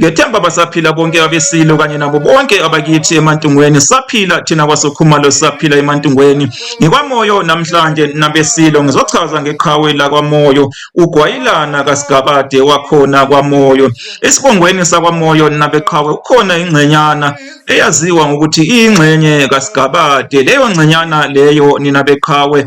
Ngethemba basaphila bonke abesilo kanye nabo bonke abakithi emantungweni saphila thina kwasokhumalo saphila emantungweni ngikwamoyo namhlanje nabesilo ngizochaza ngeqhawe lakwamoyo ugwayilana kasigabade wakhona kwamoyo esibongweni sakwamoyo nabeqhawe ukhona ingcenyana eyaziwa ngokuthi iyingxenye kasigabade leyo ngcenyana leyo nina beqhawe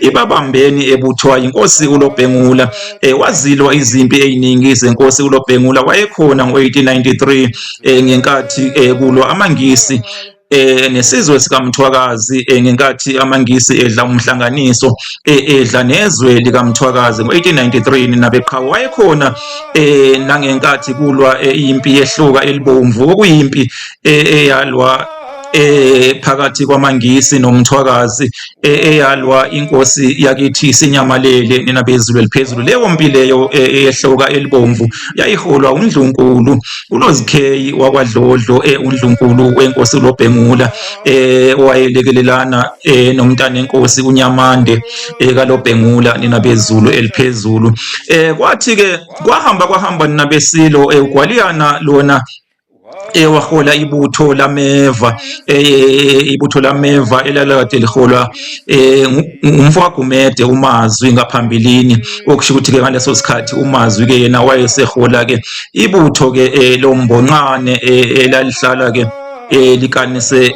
ibabambeni ebuthwa inkosi uLobhengula eh, wazilwa izimpi eziningi zenkosi uLobhengula wayekhona ngo-1893 eh, ngenkathi eh, kulwa amaNgisi eh nesizwe sikaMthwakazi eh, ngenkathi amaNgisi edla umhlanganiso eh, edla nezwe likaMthwakazi ngo-1893 nabeqhawe wayekhona eh nangenkathi kulwa eh, impi yehluka elibomvu okuyimpi eh, eyalwa eh phakathi kwamaNgisi noMthwakazi e-, eyalwa inkosi yakithi sinyamalele nina bezulu eliphezulu leyo mpi leyo e-, eyehloka elibomvu yayiholwa undlunkulu ulozikheyi wakwadlodlo e-, undlunkulu wenkosi ulobhengula owayelekelelana nomntana enkosi unyamande kalobhengula nina bezulu eliphezulu kwathi-ke kwahamba kwahamba nina besilo ugwaliyana lona ewahola ibutho lameva e, e, e, ibutho lameva elalakade liholwa ngumfo kagumede umazwi ngaphambilini okusho ukuthi-ke ngaleso sikhathi umazwi-ke yena wayesehola-ke ibutho-ke lombonqane elalihlala-ke likanise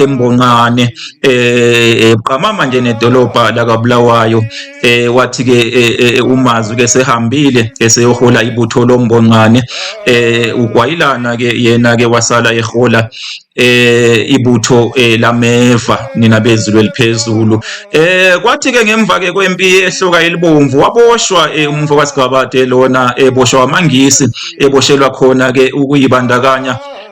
embonqane buqamama nje nedolobha lakabulawayo eh wathi ke eh, eh, eh, umazi ke sehambile eseyohola ibutho lombonqane eh ugwayilana ke yena ke wasala ehola eh ibutho eh, lameva nina bezulu eliphezulu eh kwathi ke ngemva ke kwempi ehloka elibomvu waboshwa eh, umfo kasigabade lona eboshwa amangisi eboshelwa khona ke ukuyibandakanya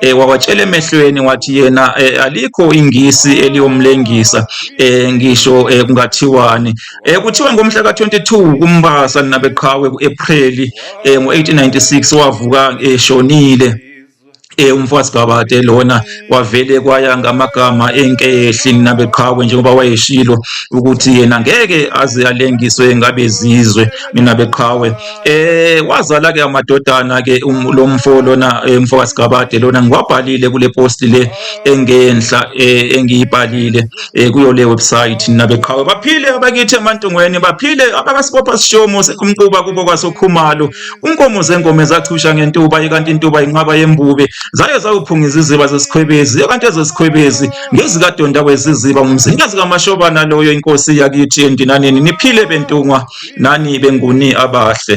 eh, wawatshela emehlweni wathi yena eh, alikho ingisi eliyomlengisa eh, ngisho eh, kungathiwani eh, kuthiwa ngomhla ka-22 kumbasa nabeqhawe ku-apreli eh, ngo-1896 wavuka eshonile eh, e umfazi kabade lona kwavele kwaya ngamagama enkehli nabeqhawe njengoba wayeshilo ukuthi yena ngeke aze alengiswe ngabezizwe mina beqhawe Eh wazala ke amadodana ke um, lo mfo lona eh, mfo kaSigabade lona ngiwabhalile kule post le engenhla eh, engiyibhalile eh, kuyo le website nabeqhawe baphile abakithi emantungweni baphile abakasibopha sishomo sekumquba kubo kwasokhumalo unkomo zengome zachusha ngentuba ikanti intuba inqaba yembube zaye zawuphungiza iziba zesikhwebezi kanti ezesikhwebezi ngezikadonda kweziziba ngumzikazi kamashobana loyo inkosi yakithi endinaneni niphile bentungwa nani benguni abahle